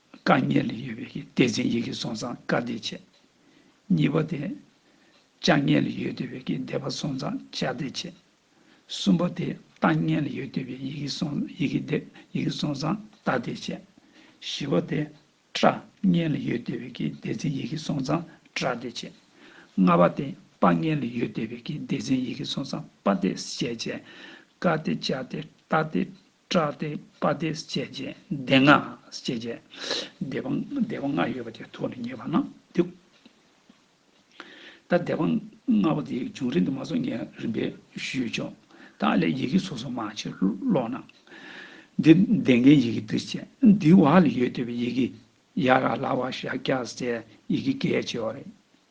བཀའ་གཉན་ལས་ཡོད་པའི་གཏེར་འཛིན་ཡི་གེ་སོང་ཙང་བཀའ་གཏེར་ཆེ། གཉིས་པ་སྟེ། བཅའ་གཉན་ལས་ཡོད་འདོད་པའི་བཟླས་པ་སོང་ཙང་བཅའ་གཏེར་ཆེ། གསུམ་པ་སྟེ་རྟ་གཉན་ལས་ཡོད་འདོད་པའི་ཡི་གེ་སོང་ཡི་གེ་འདེབས་ཡི་གེ་སོང་ཙང་རྟ་གཏེར་ཆེ། བཞི་བ་སྟེ། སྤྲ་གཉན་ལས་ཡོད་འདོད་པའི་གཏེར་འཛིན་ཡི་གེ་སོང་ཙང་སྤྲ་གཏེར་ཆེ། ལྔ་བ་སྟེ་དཔའ་གཉན་ལས་ཡོད་འདོད་པའི་གཏེར་འཛིན་ཡི་གེ་སོང་ཙང་དཔའ་གཏེར་ཆེ། བཅས་བཀའ་གཏེར་བཅའ་གཏེར་རྟ་གཏེར་པྲ་སྟེ་པ་སྟེ་སྐྱེད་བྱེད་སྡེ་ལྔ་སྐྱེད་བྱེད་སྡེ་པ་སྡེ་པ་ལྔ་ཡོད་པ་དེ་ཐོག་ནས་ངེས་པ་ན་དེ། ད་སྡེ་པ་ལྔ་པོ་དེའི་བྱུང་རིམ་དུ་མ་སོགས་ངས་རིམ་པས་ཞུས་ཆོག་ད་ཨ་ལས་ཡི་གེ་སོ་སོ་མ་ཕྱིར་སློག་ན། འདི་ལྡེ་མཁན་ཡི་གེ་འདི་སྐྱེད་འདི་བ་ལ་ཡོད་འདོད་པའི་ཡི་གེ་ཡ་ར་ལ་བ་ཤ་ཀྱ་སྐྱེད་ཡི་གེ་གལ་ཆེ་བ་རེད།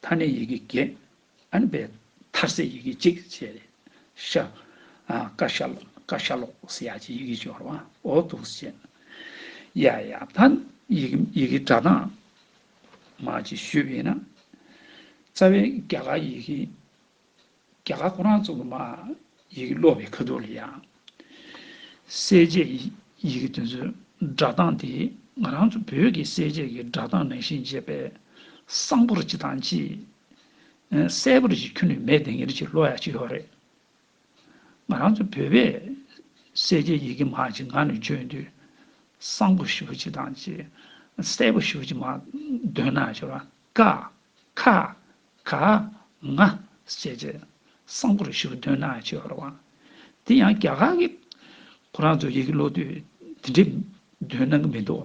མཐར་ནི་ཡི་གེ་བརྒྱད། ཨན་པའི་མཐར་སའི་ཡི་གེ་གཅིག་བྱས་ཏེ། ཤ། ཀ་ཤ་ལོ། ཀ་ཤ་ལོ། སི་ཡ་ཅེས་ཡི་གེ་བཅུ་བར་བ་ཨོ་ཐུགས་སུ་བྱས། ཡ་ཡ། མཐར་ནི་ཡི་གེ་སྒྲ་གདངས། མ་ཅེས་ཞུས་པས་ན། རྩ་བའི་རྒྱ་གར་ཡི་གེ། རྒྱ་གར་ཁོ་རང་ཚོ་ལ་མ་ཡིག་ཀློག་པའི་ཁ་ཐུག་ལ་ཡང། གསལ་བྱེད་ཡིག་གི་དོན་ཚུལ་སྒྲ་གདངས་དེ་ང་རང་ཚོ་བོད་ཀྱི་གསལ་བྱེད་ཀྱི་སྒྲ་གདངས་ནང་བཞིན་བྱས་པས། གསང་པོར་ཅི་དང་ཅི། གསལ་པོར་ཅི་ཁྱོན་ནས་མེད་དེ་ངེད་ཅིག་ལོག་ཡ་ཅིག་ཡོད་རེད། ང་རང་ཚོ་བོད་པས་གསལ་བྱེད་ཡིག་གི་མ་ཅིག་ངག་ནས་བརྗོད་དུས། གསང་པོ་ཞུ་བ་ཅི་དང་ཅི། གསལ་པོ་ཞུ་བ་ཅིག་མ་འདོན་ན་ཤོར་བ། ཀ། ཁ། ག་ང་བཅས་ཀྱི་གསང་སྒོར་ཞུ་བ་དོན་སྣང་ཆེ་བ་རེད། དེ་ཡང་རྒྱ་གར་གྱི་ཁོ་རང་ཚོའི་ཡི་གེ་ཀློག་དུས་དེ་འདྲའི་དོན་སྣང་གི་མི་འདུག་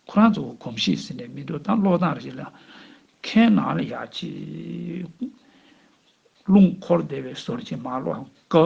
ཁོ་རང་ཚོ་གོམས་གཤིས་ཟེར་ནས་མི་འདུག་ད་ཀློག་སྟངས་རེ་ཞིག་ལ་མཁས་ནང་ལ་ཡ་ཅིག། རླུང་འཁོར་བདེ་བའི་ཟོར་གྱིས་མ་ཀློག་ཀི།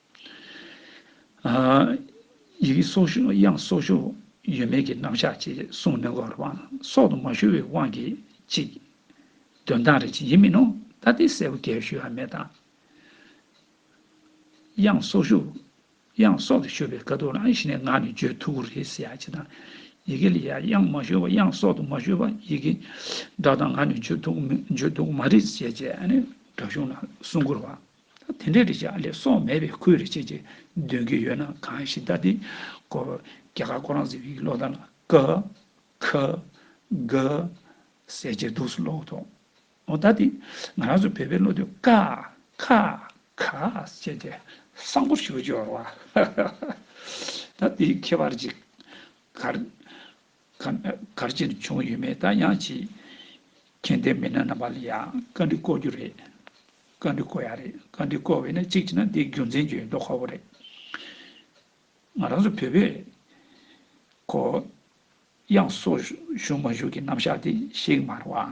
ཡི་གེ་སོགས་ཤོག་དབྱངས་སོགས་ཤོག་ཡོད་མེད་ཀྱི་རྣམ་གཞག་ཅེས་གསུངས་མི་དགོས་པར་བང་སོགས་དུ་མ་ཞུ་བའི་དབང་གིས་གཅིག། དོན་དག་རེ་གཅིག་ཡིན་མིན་ནོ་ད་ལྟའི་གསལ་བོ་གལ་ཞུ་ཡ་མེད་དང། དབྱངས་སོགས་ཤོག་དབྱངས་སོགས་དུ་ཞུ་བའི་དཀའ་སྡུག་ལ་གཞི་ནས་ངག་ནི་བརྗོད་ཐུབ་པོ་རེད་ཟེར་ཡ་གཅིག་དང། ཡི་གེ་ལ་ཡ་དབྱངས་མ་ཞུ་བ་དབྱངས་སོགས་དུ་མ་ཞུ་བ་ཡི་གེ་སྒྲ་དང་ངག་ནི་བརྗོད་ཐུབ་པོ་མེད་བརྗོད་ཐུབ་པོ་མ་རེད་ཟེར་བྱས་ནས་སྒྲ་གཞུང་ལ་སྲུང་འཁོར་བ་ད་དེ་འདྲའི་རེ་བྱ་ལས་སོགས་མེད་པའི་ཁུལ་རེ་བྱེད་ཅེས་འདོན་གྱི་ཡོད་ན་གང་ཞིག་ད་དེ་ཀོ་རྒྱ་གར་ཀོ་རང་ཟེར་བའི་ལོག་ལྟ་ལ་ཀ་ཁ་གྷ་ཟེར་ཅེས་འདུག་སུ་ལོག་ཐོག་ཨོ་ད་དེ་ང་རང་ཚོ་བོད་པའི་བློ་དུས་ཀ་ཁ་གྷ་བྱས་ཏེ་བསམ་བོ་ཞུ་རྒྱུ་ཨ་ཧཧཧ། གར་ཅིར་བྱུང་ཡོད་མེད་ད་ཡང་ཅི། མཁྱེན་ལྡན་མི་སྣ་རྣམ་པ་ལ་ཡང་བཀའ་འདྲི་བསྐོ་རྒྱུ་རེད། བཀའ་འདྲི་བསྐོ་ཡ་རེད། བཀའ་འདྲི་བསྐོ་བས་ན་གཅིག་བྱས་ན་འདི་རྒྱུ་མཚན་གྱི་མདོ་ཁ་བོ་རེད། ང་རང་ཚོ་བོད་པས། ཁོ། དབྱངས་སོགས་བཞུགས་མ་བཞུགས་ཀྱི་རྣམ་གཞག་དེ་ཤེས་ཀྱི་མ་རེད་བ།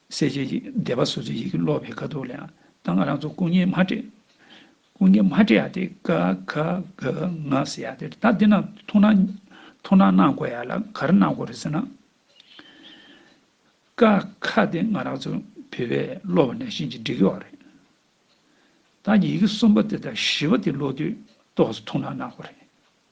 གསལ་བྱེད་ཀྱི་བཟླས་པ་སོ་སོའི་ཡི་གེ་ཀློག་པའི་དཀའ་སྡུག་ལའང་ད་སྔ་རང་ཚོ་སྐུ་བརྙན་མ་སྤྲད། སྐུ་བརྙན་མ་སྤྲད་ཡ་དེ་ཀ་ཁ་ག་ང་ཟེར་ཡ་དེ་ད་འདི་ན་ཐུགས་སྣང་ཐུགས་སྣང་གནང་དགོས་ཡ་ལ་ག་རེ་གནང་དགོས་རེད་ཟེར་ན། ཀ་ཁ་དེ་སྔ་རང་ཚོ་བོད་པས་ཀློག་པ་ནས་བཞིན་གྱི་འགྲིག་གི་བ་རེད། ད་ཡི་གེ་གསུམ་པ་དེ་དང་བཞི་བ་དེ་ཀློག་དུས་རྟོགས་སོ་ཐུགས་སྣང་གནང་དགོས་རེད།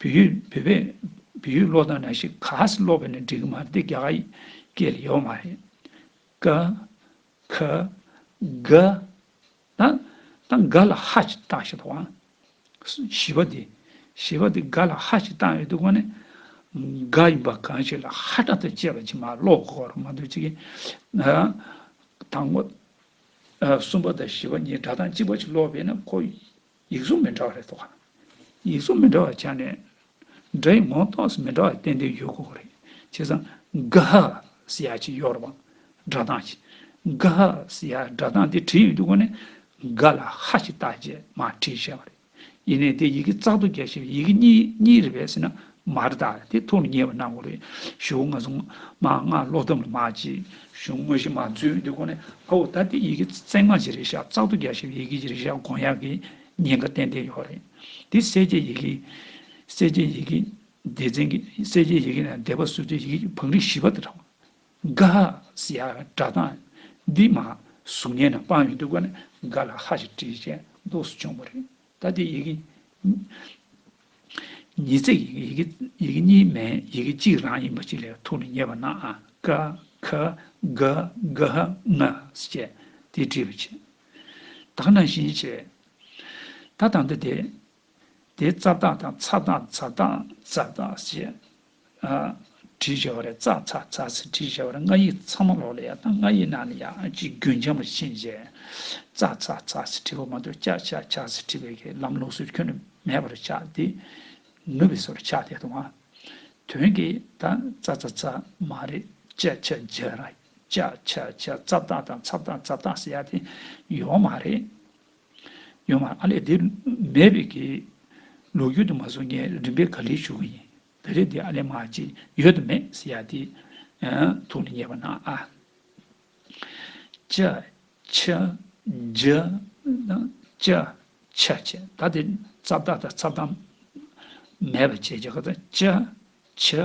བོད་ཡིག་བོད་པས་བོད་ཡིག་ཀློག་དང་ན་ཞིག་ག་ས་ཀློག་པས་ནི་འགྲིག་གི་མ་རེད་དེ་རྒྱ་གར་ཡིག་སྐད་ལ་ཡོད་མ་རེད། ཀ། ཁ། ག། ད། ད་ག་ལ་ཧ་ཅིག་བཏགས་ཞེས་པའང། བཞི་པ་དེ། བཞི་པ་དེ་ག་ལ་ཧ་ཅིག་བཏགས་ཡོད་འདུག་གོ་ནི། ག་ཡིན་པ་གང་ཞིག་ལ་ཧ་སྒྲ་དང་བཅས་པ་ཅིག་མ་ཀློག་གོ་རུ་མ་འདུག་ཅིག། དང་པོ། གསུམ་པ་དང་བཞི་པ་གཉིས་སྒྲ་གདངས་གཅིག་པ་ཅིག་ཀློག་པས་ནི་ཁོ། ཡིག་གཟུགས་མི་འདྲ་བ་རེ་རྟོགས་དཀའ། ཡིག་གཟུགས་མི་འདྲ་བ་ཆ་ནས། སྒྲ་ཡི་ངོ་མདོག་སུ་མི་འདྲ་བ་བསྟན་དོན་ཡོད་དགོས་པ་རེད། བྱས་ཙང། ཀ་ཧ་སི་ཡ་ཅི་ཡོར་བ། སྒྲ་གདངས་ཅི། ཀ་ཧ་སི་ཡའི་སྒྲ་གདངས་དེ་བྲིས་ཡོད་འདུག་གོ་ནས། ཀ་ལ་ཧ་ཅི་བཏགས་རྗེས་མར་བྲིས་བྱས་པ་རེད། ཡིན་ནས་དེ་ཡི་གེ་གཙག་ཏུ་རྒྱ་ཞེས་པའི་ཡི་གེ་གཉིས་གཉིས་རེད་བས་སྲིད་ན་མ་རེད་ད་དེ་ཐུགས་ལ་ཉེ་བར་གནང་དགོས་རེད་ཞུ་ང་ཚོ་མ་སྔ་ལོག་གཏམ་ལ་མ་བྱེད་ཞུ་དངོས་གཞི་མ་རྫུན་འདི་ཁོ་ནས་ཨ་བོ་ད་དེ་ཡི་གེ་བརྩེགས་མ་གྱི་རེད་ཤག་བརྩག་ཏུ་རྒྱ་ཞིག་ཡི་གེ་གྱི་རེད་ཤག་དགོངས་ཡག་གི་ཉེན་ཁ་ཏན་ཏན་ཡོག་རེད་དེ་གསལ་བྱེད་ཡི་གེ་གསལ་བྱེད་ཡི་གེ་སྡེ་ཚན་གྱི་གསལ་བྱེད་ཡི་གེ་ནས་སྡེ་པ་བཟོ་བྱེད་ཡི་གེ་གྱི་བང་རིམ་བཞི་པ་དེ་འདྲ་འགའ་ཡ་སྒྲ་གདངས་འདི་མ་གཟུགས་བརྙན་ནང་སྤང་ཡོད་འདུག་ཁོ་ནས་འགའ་ལ་ཧ་ཞིག་བྲིས་བྱས་མདོག་སུ་བྱུང་བ་རེད། ད་ལྟའི་ཡི་གེ་ཉིས་བརྩེགས་ཡི་གེ་ཡི་གེ་གཉིས་མན་ཡི་གེ་གཅིག་རང་ཡིན་པ་ཅིག་ལས་ཐུགས་ལ་ངེས་པ་ན་ཨ་ཀ་ཁ་ག་གྷ་ང་ཟེ་བཅས་དེ་བྲིས་པ་བྱས། དག་ནང་བཞིན་བྱས། ད་དང་ད་དེ། དེ་རྩ་བརྟག་དང་ཚ་བརྟག་ཛར་བརྟག་ཛར་བརྟག་ཟེ་བྱས། བྲིས་བྱ་བ་རེད་ཙག་ཙག་ཙག་ཙིག་བྲིས་བྱ་བ་རེད་ང་ཡིག་ཚང་མ་ལོག་ལེ་ཡག་དང་ང་ཡིག་ནང་ལེ་ཡག་ཅིག་རྒྱུན་འབྱམས་པར་ཕྱིན་རྗེས་ཙག་ཙག་ཙག་ཙིག་བྲིས་པ་མ་གཏོགས་ཅག་ཅག་ཅག་ཙིག་བྲིས་པའི་གི་ལམ་ལུགས་སུ་ཁྱོན་ནས་མེད་པར་ཆགས་ཏེ་ནུབ་པའི་སོར་ཆགས་ཏེ་དང་དོན་གྱི་ད་ཙག་ཙག་ཙག་མ་རེད་ཅག་ཅག་ཅག་རེད་ཅག་ཅག་ཅག་ཙབ་ཏག་དང་ཚབ་ཏག་ཙབ་ཏག་ཟེར་ཡག་དེ་ཡོག་མ་རེད། ཡོད་མ་ཨ་ལས་དེ་མེད་པའི་གི། ལུག་ཁྱུ་དུ་མ་བཟོ་ངས་རིམ་པས་ག་ལེར་ཞུ་གི་ཡིན། བེ་རེ་དེ་ཨ་ལས་མ་ཅི་ཡོད་དུ་མེད་ཟེར་ཡ་དེ། ཐུགས་ལ་ཉེས་པ་ན་ཨ། ཅི། ཆི། འཇི། ཅི། ཆི་བྱས་ད་དེ་རྩ་བརྟག་དང་རྩ་བརྟག། མེད་པ་བྱས་རྒྱ་གར་དང་ཅི། ཆི།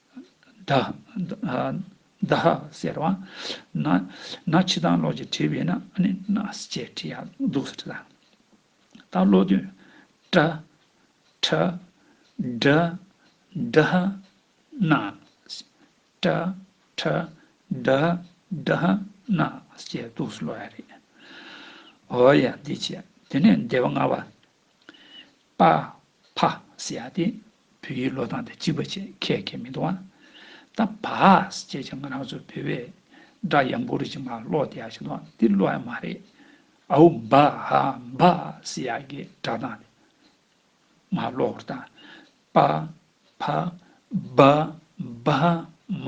བདག། ཟེར་བ། ན། ན་འཆི་དང་ལོག་ཅེས་བྲི་བས་ན་ནི་ན་ཅེས་བྲི་ཡང་སྡུག་སུ་བྲི་དང། ད་བློ་དོན། ཏྲ། ཁྲ། འདྲ། འདྲ། ན། ཏྲ། ཁྲ། འདྲ། འདྲ། ན། ཅེས་སྡུག་སུ་ལོག་ཡ་རེད། འོ་ཡ་འདི་ཅི། དེ་ནས་འདས་པ་ལྔ་བ། པ། ཕ། སི་ཡ་སྟེ། བུ་ཡིས་བློས་བཏང་སྟེ་གཅིག་པ་ཆེད་མཁས་མཁས་མི་འདུག་ཨང། ད། བ། སི་ཅེས་ཀྱང་ང་རང་ཚོའི་བུད་བས། སྒྲ་ཡང་མགོ་རུས་ཀྱི་ངག་ཀློག་བདེ་ཡག་ཞིག་འདུག་ཨང་འདི་བློ་ཡང་མ་རེད། ཨའུ། བ། བ། སི་ཡ་ཀྱིས་སྒྲ་བཏང་སྟེ། ངག་ཀློག་བར་བཏང། པ། ཕ། བ། བ། མ།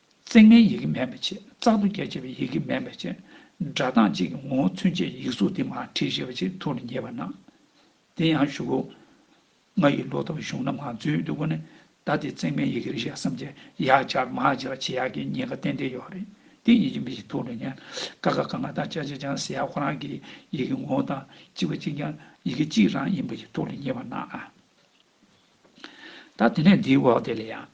བརྩེགས་མའི་ཡི་གེ་མེད་པའི་ཆེད་རྩག་ཏུ་རྒྱ་ཆེ་བའི་ཡི་གེ་མེད་པའི་ཆེད་སྒྲ་གདངས་གཅིག་གི་ངོ་བོ་མཚོན་བྱེད་ཡིག་གཟུགས་འདི་མ་བྲིས་ཞེས་པ་ཆེས་ཐུགས་ལ་ངེས་པར་སྣང། དེ་ཡང་བཞུགས་སྒོ། ང་ཡི་ལོ་ཏོག་གཞུང་རྣམས་ངང་ཚུལ་དུ་བཀོད་ནས་ད་དེ་བརྩེགས་མའི་ཡི་གེ་རེ་ཞིག་བསམ་གྱིན་ཡག་ཆར་མ་བྱས་ལ་བྱེད་ཡག་གི་ཉེན་ཁ་ཏན་ཏན་ཡོད་རེད་དེ་ཡིན་གྱི་མི་ཞིག་ཐུགས་ལ་ངེས་ཀ་ཁ་ག་ང་དང་ཅག་ཅེ་ཅང་ཟེར་ཡག་ཁོ་རང་གི་ཡི་གེ་ངོ་བོ་དང་གཅིག་པ་གཅིག་ཀྱང་ཡི་གེ་གཅིག་རང་ཡིན་པ་ཞིག་ཐུགས་ལ་ངེས་པར་སྣང། ད་དེ་ནས་འདིའི་འོག་དེ་ལ་ཡང།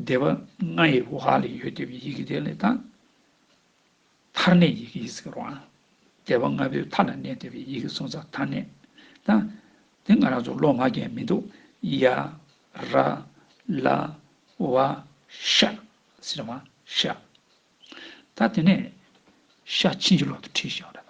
སྡེ་པ་ལྔ་ཡི་འོག་ལ་ཡོད་སྡེ་པའི་ཡི་གེ་དེ་ལས་དང། མཐར་གནས་ཡི་གེ་ཡིས་ཀྱི་རོའང། སྡེ་པ་ལྔ་པོའི་མཐའ་ལ་གནས་སྡེ་པའི་ཡི་གེ་གསུམ་ཚ་མཐར་གནས་དང། དེ་ང་རང་ཚོ་ལོ་མ་རྒན་མི་འདུག་ཡ། ར། ལ། བ། ཤ། སི་ར་མ། ཤ། ད་དེ་ནས། ཤ་ཕྱིན་ཅི་ལོག་ཏུ་ཁྲིད་ཤ་ར་དང།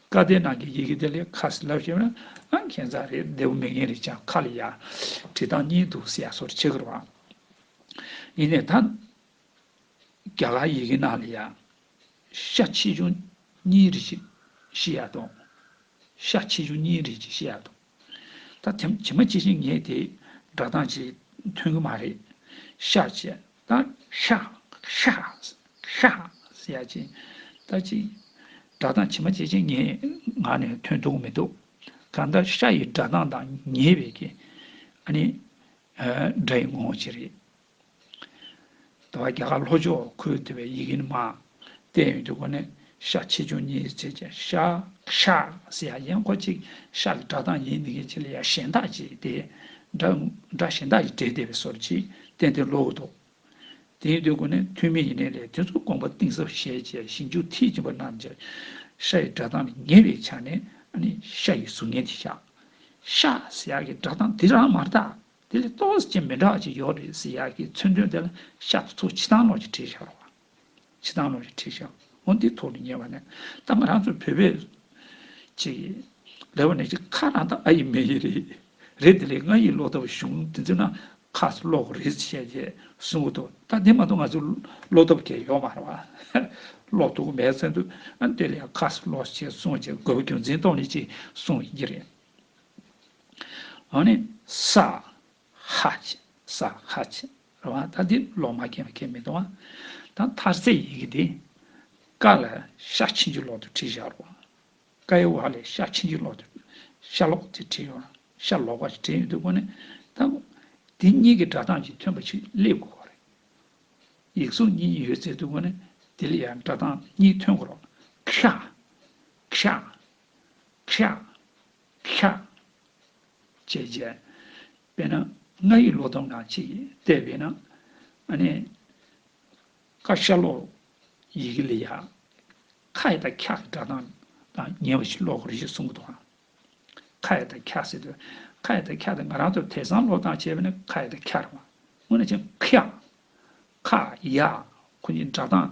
བཀའ་བསྟན་ནང་གི་ཡི་གེ་དེ་ལས་ཁ་ཟིན་ལབ་ཤེས་ན་ཨང་ཁྱེད་ཚང་རེད་བདེ་བོ་མི་ངན་རེད་ཅག་ཁ་ལ་ཡར་བྲིས་སྟངས་གཉིས་འདུག་ཟེར་ཡ་སོར་ཆེ་གི་རང་ཡིན་ནས་ད་རྒྱ་གར་ཡི་གེ་ནང་ལ་ཡ་ཤ་ཆེ་ཆུང་གཉིས་རེད་ཅིག་ཤེས་ཡ་དང་ཤ་ཆེ་ཆུང་གཉིས་རེད་ཅིག་ཤེས་ཡ་དང། ད་བྱེ་མ་ཅི་ཞིག་ངས་དེ་སྒྲ་གདངས་ཅིག་ཐོན་གི་མ་རེད། ཤ་ཅེས་ད་ཤ་ཤ་ཤ་ཟེར་ཡ་ཅིག་ད་ཅིག་སྒྲ་གདངས་བྱེ་མ་ཅི་ཞིག་ངའི་ངག་ནས་ཐོན་ཐུབ་གི་མི་འདུག་གང་ལྟར་ཤ་ཡི་སྒྲ་གདངས་དང་ཉེས་པའི་ཨ་ནི་སྒྲ་ཡི་ངོ་བོ་ཅི་རེད། དང་བ་རྒྱ་གར་ལྷོ་ཕྱོགས་ཁུལ་དེ་བའི་ཡི་གེ་ནི་མ། བསྟན་ཡོད་དུས་གོ་ནས་ཤ་ཆེ་ཆུང་གཉིས་ཡི་ཚད་ཅན་ཤ། ཤགས་སེ་ཡ་ཡན་ཁོ་གཅིག་ཤགས་ཀྱི་སྒྲ་གདངས་ཡིན་ནི་གེ་ཆེ་ལ་ཡ་གཞན་དག་ཅེས་ཏེ། སྒྲ། སྒྲ་གཞན་དག་ཡི་སྒྲའི་སྡེ་བའི་སོར་གྱིས་བསྟན་ཏེ་ལོག་འདུག། དེ་ཡིན་དུས་གོ་ནས་ཐུན་མིན་ཡི་གནས་ལས་དེ་ཚོ་དགོངས་པ་གཏིང་ཟབ་བཞེད་ཅེས་ཞིབ་འཇུག་མཐིལ་ཕྱིན་པ་རྣམས་ཀྱི། ཤ་ཡི་སྒྲ་གདངས་ལས་ངེས་པའི་ཆ་ནས་ནི་ཤ་ཡི་གཟུགས་བརྙན་དེ་ཤགས། ཤགས་སེ་ཡ་ཀྱི་སྒྲ་གདངས་དེ་རང་མ་གདགས། དེ་ལས་ཏོག་ཙེ་ཅན་མི་འདྲ་བ་གཅིག་ཡོད་རེད་ཟེར་ཡག་གི་མཚོན་དོན་དེ་ལ་ཤར་ཏུ་ཚོ་ཕྱི་ཐང་ལོགས་ཀྱི་བྲིས་ཤར་བ། ཕྱི་ཐང་ལོགས་ཀྱི་བྲིས་ཤར་བ་འདི་ཐོག་ཏུ་ཉེ་བ་ནས་ད་ང་རང་ཚོ་བོད་པས་ཅི། ལེ་བ་ནས་ཅི་ཁ་རང་ད་ཨ་ཡི་མེ་ཡི་རེད། རེད་དེ་ལས་ང་ཡིས་ལོག་ཐབས་བྱུང་དེ་ཚོས་ན་ཁ་སུ་ལོག་གོ་རེད་བྱས་རྗེས་གསུང་གི་འདུག་ད་དེ་མ་གཏོགས་ང་ཚོས་ལོག་ཐབས་གལ་ཡོད་མ་རེད་བ། ལོག་ཐུག་མེད་ཟེར་འདུག་དེ་ལས་ཁ་སུ་ལོག་ཞེས་གསུང་རྗེས་དགོས་པ་རྒྱུ་མཚན་ཐོག་ནས་ཅི་གསུང་ཡི་རེད། ཨོ་ནི། སྭ། ཧཱ། སྭ། ཧཱ། རེད་བ། ད་འདི་ལོག་མ་མཁྱེན་པ་ཁས་མི་ལྟུང་བ། ད་མཐར་ཚད་ཡི་གེ་འདི། ཀ་ལ་ཤ་ཆིན་གྱི་ལོག་ཏུ་བྲིས་བཞག་རོགས། ཀ་ཡི་བར་ལས་ཤ་ཆིན་གྱི་ལོག་ཏུ། ཤ་ལོག་ཅེས་བྲིས་ཡོད། ཤ་ལོག་པ་ཞེས་བྲིས་ཡོད་འདུག་གོ་ནི། ད། འདི་གཉིས་ཀྱི་སྒྲ་གདངས་ཀྱི་མཐུན་པ་ཞིག་སླེབས་དགོས་པ་རེད། ཡིག་གཟུགས་གཉིས་ཡོད་ཚད་འདུག་གོ་ནི། འདི་ལ་ཡང་སྒྲ་གདངས་གཉིས་མཐུན་དགོས་རོགས། ཁྱ། ཁྱ། ཁྱ། ཤཱཀྱ་རྗེས། དཔེར་ན་ང་ཡི་ལོ་སྡོམ་དང་ཅིག་སྟེ་བས་ན། ཀ་ཤ་ལོ། ཡི་གེ་ལས་ཡ། ཁ་ཡི་དང་འཁྱག་གི་སྒྲ་གདངས་དང་ཉེ་བ་ཞིག་ཀློག་གོ་རེ་ཞིག་གསུང་གི་འདུག་ཨང། ཁ་ཡི་དང་འཁྱག་ཟེར་དུས། ཁ་ཡི་དང་འཁྱག་དེ་ང་རང་ཚོ་དེ་སང་ལོ་དང་བྱས་པས་ན་ཁ་ཡི་དང་འཁྱག་རེད་མ། སྔོན་ནས་ཀྱང་ཁྱག། ཁ། ཡ། ཁོ་གཉིས་སྒྲ་གདངས།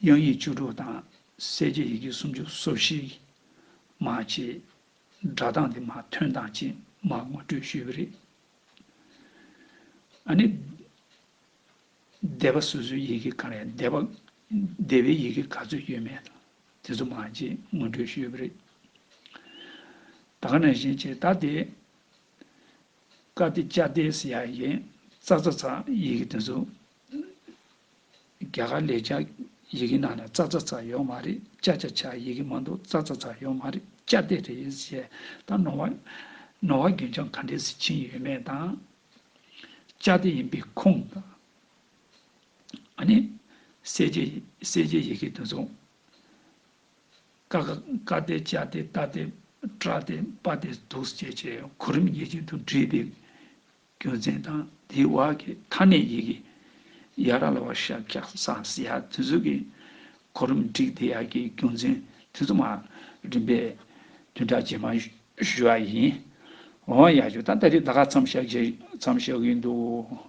དབྱངས་ཡིག་བཅུ་དྲུག་དང་གསལ་བྱེད་ཡི་གེ་སུམ་ཅུ་སོ་བཞི། མ་ཕྱི། སྒྲ་གདངས་དེ་མ་ཐོན་དང་གཅིག་མ་ངོ་སྤྲོད་ཞུས་པ་རེད། ཨ་ནི། སྡེ་པ་སོ་སོའི་ཡི་གེ་གང་རེད་སྡེ་པ། སྡེ་བའི་ཡི་གེ་ག་ཚོད་ཡོད་མེད་དང་དེ་ཚོ་མ་གཅིག་ངོ་སྤྲོད་ཞུས་པ་རེད། ད་ག་ནང་བཞིན་བྱས་ད་དེ། ཀ་ཏི་ཅཱ་ཏེ་སི་ཡ་ཡིན། ཙག་ཙག་ཙག་ཡི་གེ་དེ་ཚོ་རྒྱ་གར་ལས་བྱ་ཡི་གེ་ནང་ན་ཙག་ཙག་ཙག་ཡོག་མ་རེད་བྱ་བྱ་བྱ་ཡི་གེ་མ་འདུག་ཙག་ཙག་ཙག་ཡོག་མ་རེད་བྱ་དེ་རེད་ཞེས་དང་ནོར་བ། ནོར་བ་རྒྱུན་ཆང་ག་འདྲའི་ཟི་ཆིངས་ཡོད་མེད་དང། བྱ་དེ་ཡིན་པའི་ཁུངས་དང། ཨ་ནི། གསལ་བྱེད་གསལ་བྱེད་ཡི་གེ་དུ་མཚུངས། ཀ་ཀ་ཀ་སྟེ་ཅ་སྟེ་རྟ་སྟེ་ཀྲ་སྟེ་པ་སྟེ་དུག་ཅེས་བྱའི་གོ་རིམ་ངེས་ཅན་དུ་བྲིས་པའི་རྒྱུ་མཚན་དང་དེའི་བར་གྱི་མཐའ་ནས་ཡི་གེ་ཡ་ར་ལ་བ་ཤ་ཀྱ་ས་སི་ཡ་དུས་ཚོད་ཀྱི་གོ་རིམ་བསྒྲིགས་དེ་ཡར་གྱི་རྒྱུ་མཚན་དུས་ཚོད་མ་རིམ་པའི་བདུན་ཕྲག་རྗེས་མ་ཞུ་བ་ཡིན། འོ་ཡ་ཞོ་ད་ལྟ་རི་ད་ག་ཚམ་བཞག་རྗེས་ཚམ་བཞག་གི་འདུག།